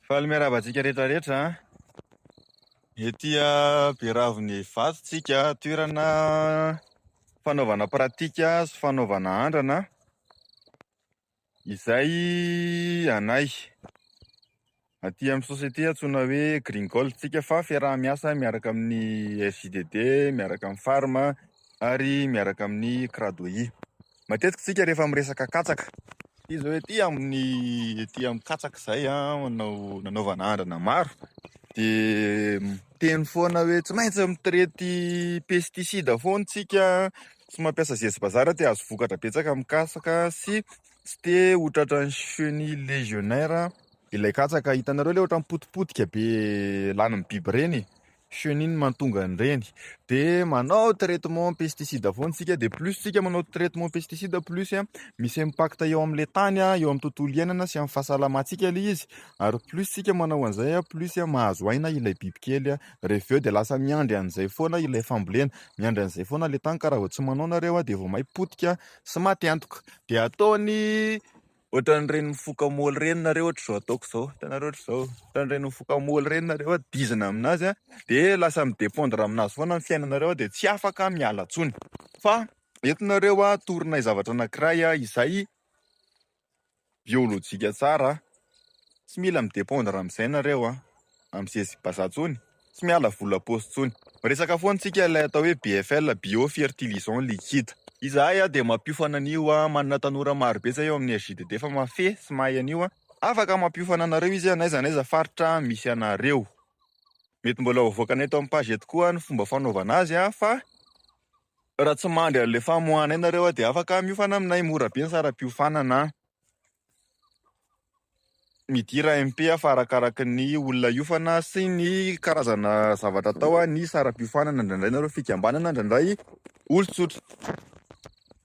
Faly miarahaba antsika rehetra rehetra an! Ety Beravon'ny Vato tsika, toerana fanaovana pratika sy fanaovana andrana izay anay aty amin'ny société antsoina hoe Green Gold tsika fa fiaraha-miasa miaraka amin'ny FJDD, miaraka amin'ny Farm ary miaraka amin'ny Cradoie. Matetika tsika rehefa miresaka katsaka ity zao ety amin'ny ety amin'ny katsaka izay manao nanaovana andrana maro dia miteny foana hoe tsy maintsy mitirety pesticide foana tsika tsy mampiasa zesy bazara dia azo vokatra betsaka amin'ny katsaka sy tsy te ho tratran'ny chenille legionnaire ilay katsaka. Hitanareo ilay ohatran'ny potipotika be lanin'ny biby ireny? chenille mantonga an'ireny dia manao traitement pesticide foana isika dia plus isika manao traitement pesticide plus misy impact eo amin'ilay tany eo amin'ny tontolo iainana sy amin'ny fahasalamantsika ilay izy ary plus isika manao an'izay plus mahazo aina ilay bibikely rehefa avy eo dia lasa miandry an'izay foana ilay fambolena miandry an'izay foana ilay tany ka raha vao tsy manao nareo dia vao may potika sy maty antoka dia ataony Ohatran'ireny mifoka moly ireny nareo ohatra izao ataoko izao, hitanareo ohatra izao, ohatran'ireny mifoka moly ireny nareo an, dizana amin'azy an, dia lasa mi-dependre amin'azy foana ny fiainanareo dia tsy afaka miala intsony. Fa eto nareo an, torinay zavatra anankiray izay biolojika tsara an, tsy mila mi-dependre amin'izay nareo an, amin'ny zezibazaha intsony. Tsy miala vola am-paosy intsony. Miresaka foana isika ilay atao hoe BFL, Bio Fertilisant Liquide. Izahay dia mampiofana an'io, manana tanora marobe izay ao amin'ny RJDD fa mahafehy sy mahay an'io. Afaka mampiofana anareo izy n'aiza n'aiza faritra misy anareo. Mety mbola ho avoakanay eto amin'ny page eto koa ny fomba fanaovana azy fa raha tsy mandry an'ilay famoahana ianareo dia afaka miofana aminay, mora be ny saram-piofanana. Midira MP fa arakaraky ny olona hiofana sy ny karazana zavatra atao ny saram-piofanana, indraindray nareo fikambanana, indraindray olon-tsotra.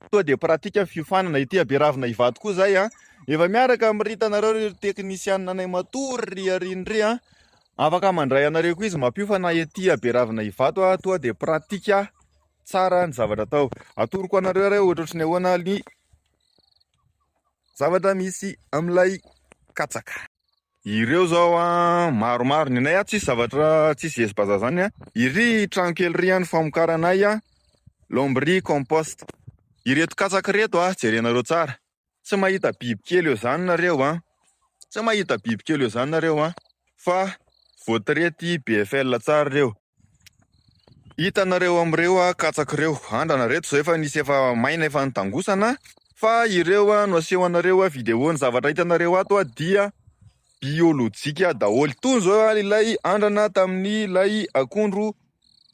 Tonga dia pratika fiofanana ity haberavina hivady koa izay a. Efa miaraka amin'ny Rita nareo ry teknisianina anay matory ry Ariny ry a. Afaka mandray anareo koa izy mampiofana ety haberavina hivato a. Tonga dia pratika tsara ny zavatra atao. Atoroko anareo ary ohatrohatry ny ahoana ny Zavatra misy amin'ilay katsaka. Ireo zao a maromaro ny anay a tsisy zavatra tsisy vesy bazar zany a iry trano kely ry a ny famokaranay a lomb'ry compost ireto katsaka reto a jerenareo tsara tsy mahita biby kely eo zany nareo a tsy mahita biby kely eo zany nareo a fa voatretyy BFL tsara reo. Hitanareo amin'ireo katsaka ireo, andrana ireto izao efa nisy efa maina efa nitangosana fa ireo no aseho anareo video ny zavatra hitanareo ato dia biolojika daholo. Toy izao ilay andrana tamin'ny ilay akondro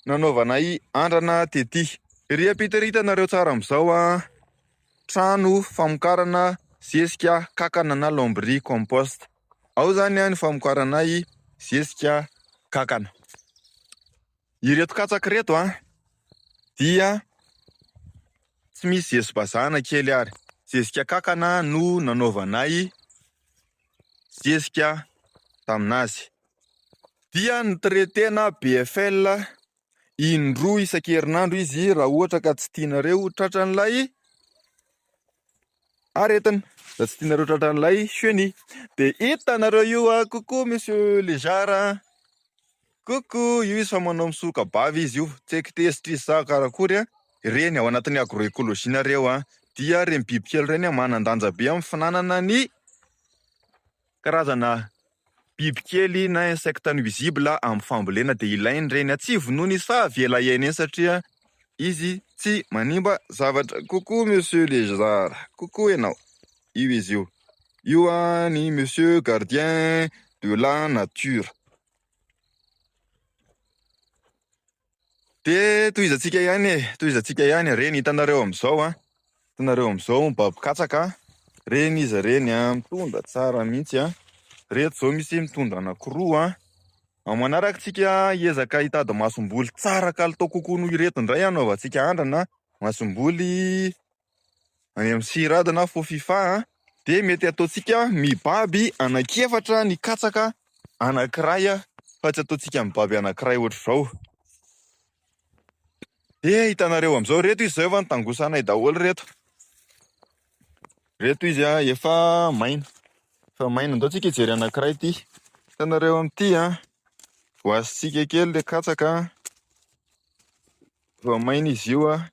nanaovanay andrana tety. Ery ampita ery hitanareo tsara amin'izao trano famokarana zezika kankana na lambris compost. Ao zany ny famokaranay zezika kankana. Ireto katsaka ireto a dia tsy misy zezi-bazaha na kely ary. Zezika kankana no nanaovanay zezika tamin'azy. Dia ni-traiter-na BFL indroa isan-kerinandro izy raha ohatra ka tsy tianareo tratran'ilay aretina raha tsy tianareo tratran'ilay cheni dia hitanareo io a kokoa misy lejara kokoa io izy fa manao misoka bavy izy io tsy haiko tezitra izy sa karakory a ireny ao anatin'ny agroekoloji nareo a dia ireny bibikely ireny a manan-danja be amin'ny finanana ny Karazana biby kely na insectes nuisibles amin'ny fambolena dia ilainy ireny atsivo noho ny izy fa avela hiaina eny satria izy tsy manimba zavatra. Coucou Monsieur Lézard, coucou enao, io izy io, io an ny Monsieur Gardien de la Nature. De tohizantsika ihany e, tohizantsika ihany e. Reny hitanareo amin'izao an. Hitanareo amin'izao mibaby katsaka an. Reny izy reny an, mitondra tsara mihitsy an. Reto izao misy mitondra anankiroa an. Amin'ny manaraka tsika hiezaka hitady masomboly tsara kalitao kokoa noho ireto indray hanaovantsika andrana masomboly any amin'ny Sirada na Fofifa dia mety ataontsika mibaby anankiefatra ny katsaka anankiray fa tsy ataontsika mibaby anankiray ohatr'izao. Dia hitanareo amin'izao reto izy zao efa nitangosanay daholo reto. Reto izy efa maina. Efa maina ndao tsika hijery anankiray ity. Hitanareo amin'ity voasintsika kely le katsaka. Voamaina izy io an,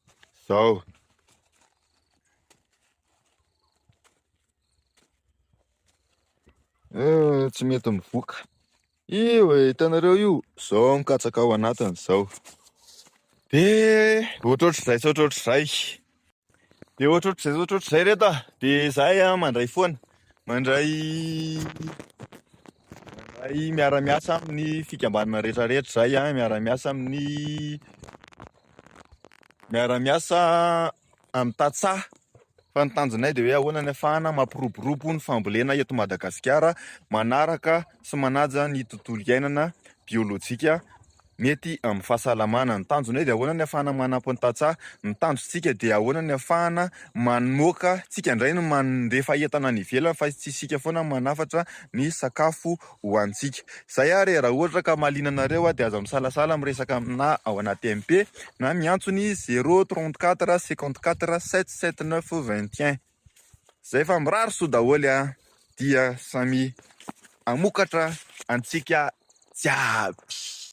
zao. Eh, tsy mety mivoka. Io e, hitanareo io, zao mikatsaka ao anatiny zao. De ohatrohatr'izay sy ohatrohatr'izay. Dia ohatrohatr'izay ohatrohatr'izay reto a. Dia izahay a mandray foana. Mandray mandray miara-miasa amin'ny fikambanana rehetrarehetra izahay a, miara-miasa amin'ny miara-miasa amin'ny tantsaha fa ny tanjonay dia hoe ahoana ny afahana mampiroborobo ny fambolena eto Madagasikara manaraka sy manaja ny tontolo iainana biolojika mety amin'ny fahasalamana. Ny tanjona hoe dia ahoana ny afahana manampy ny tantsaha? Ny tanjontsika dia ahoana ny afahana mamoaka tsika indray ny mandefa entana any ivelany fa tsy isika foana no manafatra ny sakafo hohanintsika. Izay ary raha ohatra ka mahaliana anareo dia aza misalasala miresaka aminà ao anaty MP na miantso ny zéro trente quatre cinquante quatre sept sept neuf vingt et un. Izay fa mirary soa daholo a! Dia samia hamokatra antsika jiaby.